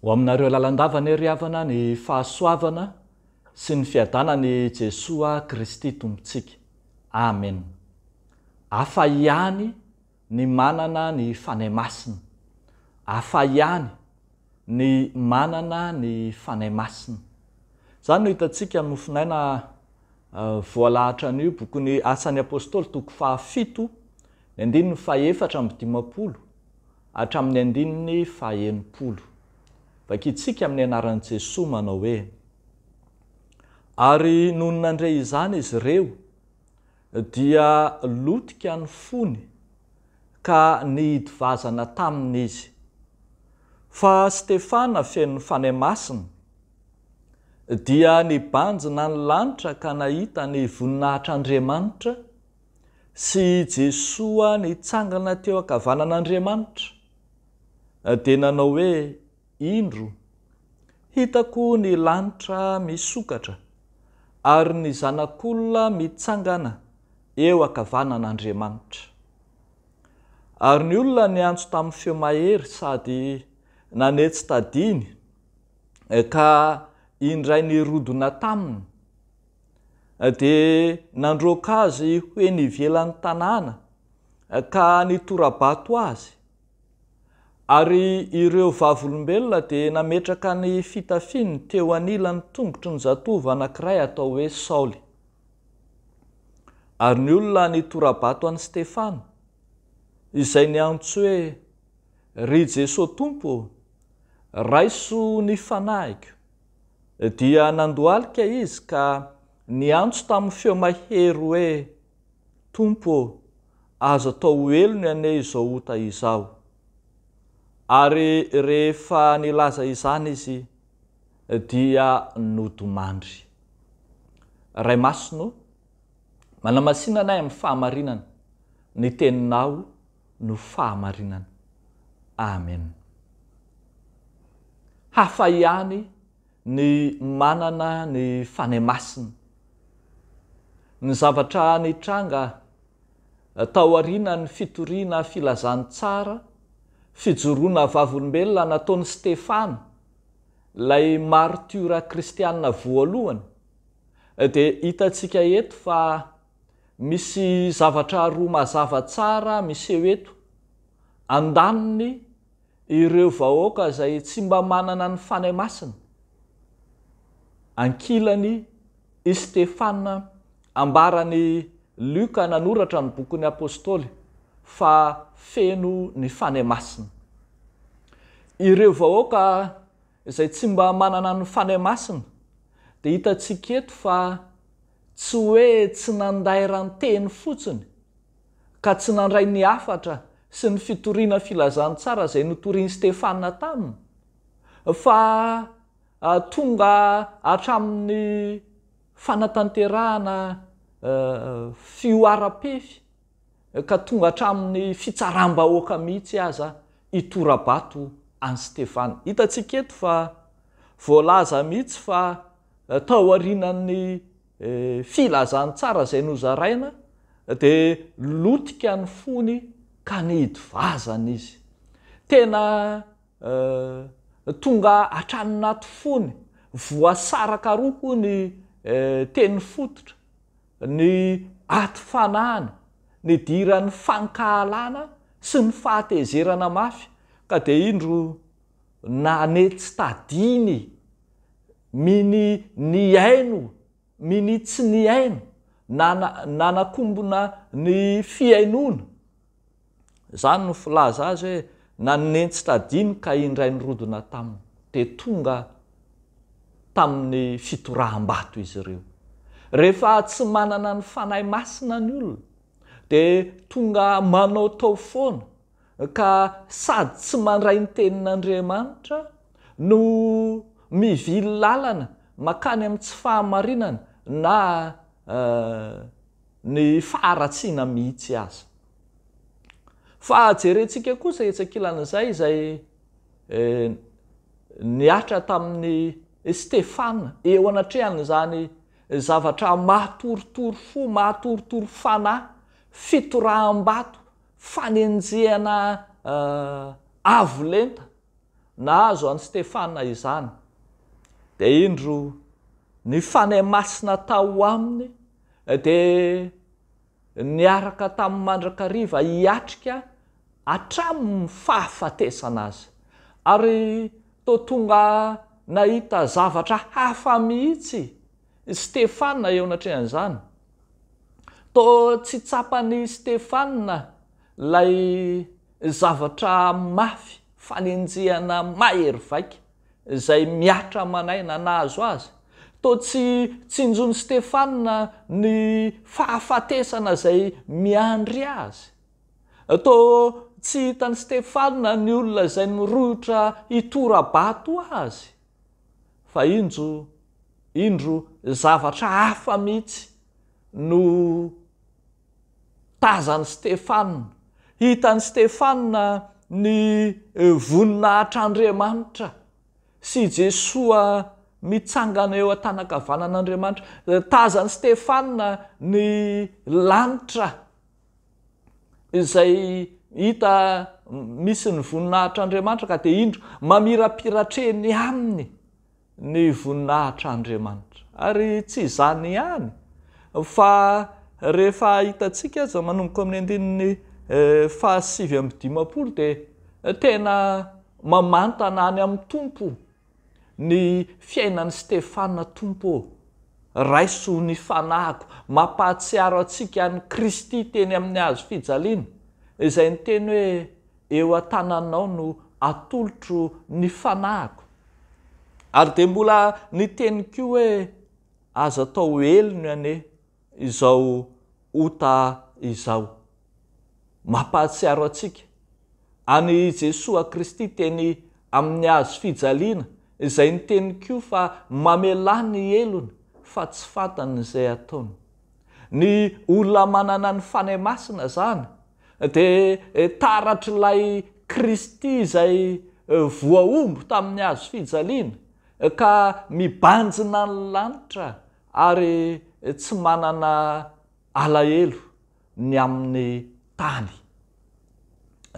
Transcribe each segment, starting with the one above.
Ho aminareo lalandava anie ry havana ny fahasoavana sy ny fiadanan'i Jesoa Kristy Tompontsika. Amen. Hafa ihany ny manana ny Fanahy Masina. Hafa ihany ny manana ny Fanahy Masina. Izany no hitantsika amin'ny mofonaina voalahatra an'io bokin'ny Asan'ny Apostoly toko fahafito, ny andininy fahefatra amby dimampolo hatramin'ny andininy fahenimpolo. Vakintsika amin'ny anaran'i Jesoa manao hoe, Ary nony nandre izany izy ireo, Dia lotika ny fony ka nihidy vazana taminy izy. Fa Stefana feno Fanahy Masina dia nibanjina ny lanitra ka nahita ny voninahitr'Andriamanitra sy i Jesoa nitsangana teo ankavanan'Andriamanitra, dia nanao hoe, Indro, hitako ny lanitra misokatra, ary ny Zanak'Olona mitsangana eo ankavanan'Andriamanitra. Ary ny olona niantso tamin'ny feo mahery sady nanetsy tadiny, ka indray nirodona taminy, dia nandroaka azy ho eny ivelan'ny tanàna, ka nitora-bato azy, Ary ireo Vavolombelona dia nametraka ny fitafiny teo anilan'ny tongotry ny zatovo anankiray atao hoe Saoly. Ary ny olona nitora-bato an'i Stefana, izay niantso hoe, Ry Jesoa Tompo ô, raiso ny fanahiko, dia nandohalika izy ka niantso tamin'ny feo mahery hoe, Tompo ô, aza atao ho helony anie izao ota izao. Ary rehefa nilaza izany izy dia nodomandry. Ray Masina ô, manamasina anay amin'ny fahamarinana, ny Teninao no fahamarinana. Amen. Hafa ihany Ny manana ny fanahy masina. Ny zavatra nitranga taorianan'ny fitoriana filazantsara fijoroana vavolombelona nataon'i Stefana, ilay martiora kristiana voalohany, dia hitantsika eto fa misy zavatra roa mazava tsara miseho eto, andaniny, Ireo vahoaka izay tsy mba manana ny Fanahy Masina, ankilany, i Stefana, ambaran'i Lioka nanoratra ny bokin'ny Apostoly fa feno ny Fanahy Masina. Ireo vahoaka izay tsy mba manana ny Fanahy Masina dia hitantsika eto fa tsy hoe tsy nandairan-teny fotsiny ka tsy nandray ny hafatra sy ny fitoriana filazantsara izay notorian'i Stefana taminy, fa tonga hatramin'ny fanatanterahana fihoaram-pefy ka tonga hatramin'ny fitsaram-bahoaka mihitsy aza hitora-bato an'i Stefana. Hitantsika eto fa voalaza mihitsy fa taorianan'ny. Filazantsara izay nozaraina dia lotika ny fony ka nihidy vazana izy. Tena tonga hatrany anaty fony, voasaraka roa hoy ny tenifototra, ny aty fanahiny, nidiran'ny fankahalana sy ny fahatezerana mafy ka dia indro Na ne tsy tadiny mini nihaino mini tsy nihaino na nanakombona ny fihainoana. Izany no filaza azy hoe na ne tsy tadiny ka indray nirodona taminy. Dia tonga tamin'ny fitoraham-bato izy ireo. Rehefa tsy manana ny Fanahy Masina ny olona dia tonga manaotao foana ka sady tsy mandray ny tenin'Andriamanitra no mivily lalana makany amin'ny tsy fahamarinana na ny faharatsiana mihitsy aza. Fa jerentsika kosa etsy ankilan'izay izay nihatra tamin'i Stefana eo anatrehan'izany zavatra mahatoritory fo, mahatoritory fanahy, fitoraham-bato Fanenjehana avo lenta nahazo an'i Stefana izany, dia indro ny Fanahy Masina tao aminy dia niaraka tamin'ny mandrakariva hiatrika hatramin'ny fahafatesana azy. Ary toa tonga nahita zavatra hafa mihitsy Stefana eo anatrehan'izany. Toa tsy tsapan'i Stefana ilay zavatra mafy fanenjehana mahery vaika izay mihatra aman'aina nahazo azy. Toa tsy tsinjon'i Stefana ny fahafatesana izay miandry azy. Toa tsy hitan'i Stefana ny olona izay nirohotra hitora-bato azy. fa injo indro zavatra hafa mihitsy no tazan'i Stefana. Hitan'i Stefana ny voninahitr'Andriamanitra sy i Jesoa mitsangana eo an-tanan-kavanan'Andriamanitra. Tazan'i Stefana ny lanitra. izay hita misy ny voninahitr'Andriamanitra ka dia indro mamirapiratra eny aminy ny voninahitr'Andriamanitra. Ary tsy izany ihany fa rehefa hitantsika aza manomboka amin'ny andininy eh, fahasivy amby dimampolo dia tena mamantana any amin'ny Tompo Ny fiainan'i Stefana Tompo ô, raiso ny fanahiko, mampahatsiaro antsika an'i Kristy teny amin'ny hazo fijaliana, izay niteny hoe eo an-tananao no atolotro ny fanahiko. Ary dia mbola niteny koa hoe aza atao elo ny anie. izao ota izao. Mampahatsiaro antsika an'i Jesoa Kristy teny amin'ny hazo fijaliana izay niteny koa fa mamelà ny helony fa tsy fantany izay ataony. Ny olona manana ny Fanahy Masina izany dia taratr'ilay Kristy izay voahombo tamin'ny hazo fijaliana ka mibanjina ny lanitra Ary tsy manana alahelo ny amin'ny tany.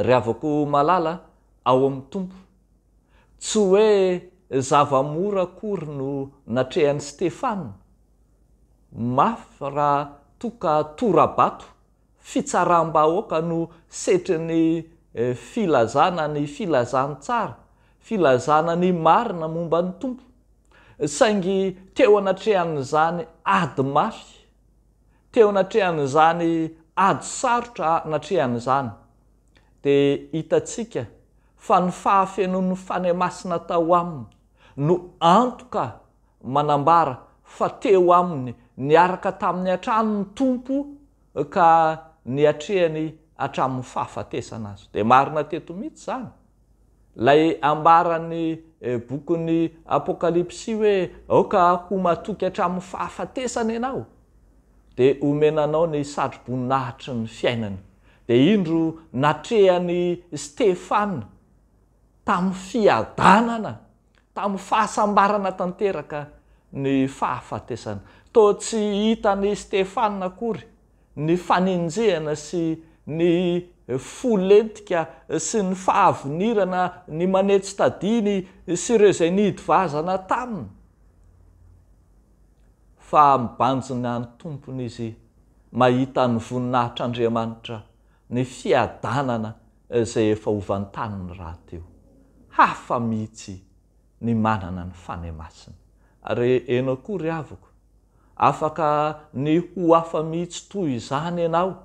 Ry havako malala ao amin'ny Tompo, tsy hoe zava-mora akory no natrehan'i Stefana. Mafy raha toa ka tora-bato fitsaram-bahoaka no setrin'ny filazana ny filazantsara, filazana ny marina momba ny Tompo. Saingy teo anatrehan'izany ady mafy, teo anatrehan'izany ady sarotra natrehany izany, dia hitantsika fa ny fahafenoan'ny Fanahy Masina tao aminy, no antoka manambara fa teo aminy niaraka taminy hatrany ny Tompo ka niatrehany hatramin'ny fahafatesana Azy. Dia marina teto mihitsy izany ilay ambaran'ny bokin'ny Apokalypsy hoe aoka ho matoky hatramin'ny fahafatesana ianao dia homena anao ny satroboninahitry ny fiainana. Dia indro natrehany Stefana. tamin'ny fiadanana, tamin'ny fahasambarana tanteraka ny fahafatesana. Toa tsy hitan'i Stefana akory ny fanenjehana sy ny fo lentika sy ny fahavinirana ny manetsy tadiny sy ireo izay nihidy vazana taminy, fa mibanjina ny tompony izy mahita ny voninahitr'Andriamanitra, ny fiadanana izay efa ho vantaniny rahateo. Hafa mihitsy ny manana ny Fanahy Masina. Ary enao koa ry haviko, afaka ny ho hafa mihitsy toy izany enao,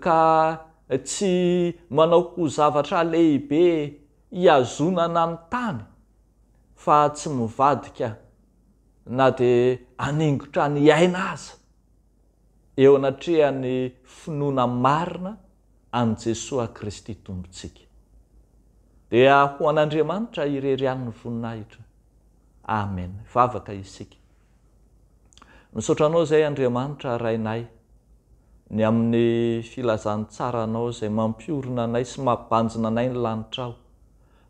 ka tsy manao ho zavatra lehibe ihazonana ny tany, fa tsy mivadika na dia haningotra ny aina aza. eo anatrehan'ny finoana marina an'i Jesoa Kristy Tompontsika. Dia ho an'Andriamanitra irery ihany ny voninahitra. Amen. Hivavaka isika. Misaotra Anao izay Andriamanitra Rainay, ny amin'ny filazantsaranao izay mampiorina anay sy mampibanjina anay ny lanitrao.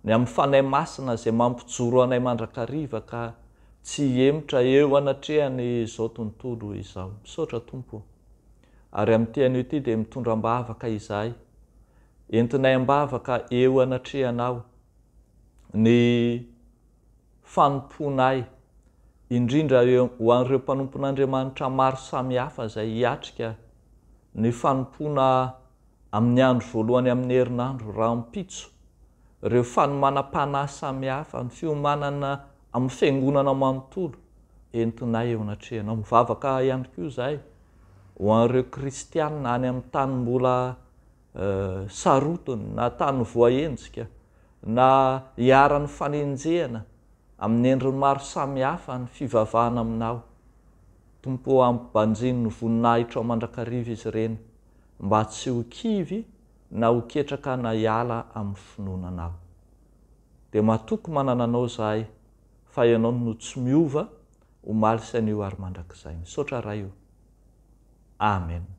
Ny amin'ny Fanahy Masina izay mampijoro anay mandrakariva ka tsy hihemotra eo anatrehan'izao tontolo izao. Misaotra Tompo o. Ary amin'ity anio ity dia mitondra am-bavaka izahay, entinay am-bavaka eo anatrehanao ny fanompoanay, indrindra ho an'ireo mpanompon'Andriamanitra maro samihafa izay hiatrika ny fanompoana amin'ny andro voalohany amin'ny herinandro rahampitso, ireo fanomanam-panahy samihafa, ny fiomanana amin'ny Fiangonana manontolo, entinay eo anatrehanao. Mivavaka ihany koa izahay ho an'ireo kristiana any amin'ny tany mbola sarotiny na tany voahenjika na iharan'ny fanenjehana amin'ny endriny maro samihafa ny fivavahana aminao. Tompo ô, ampibanjino ny voninahitrao mandrakariva izy ireny. mba tsy ho kivy na ho ketraka na hiala amin'ny finoana anao. Dia matoky manana anao izahay fa ianao no tsy miova omaly sy anio ary mandrakizay. Misaotra Ray o. Amen.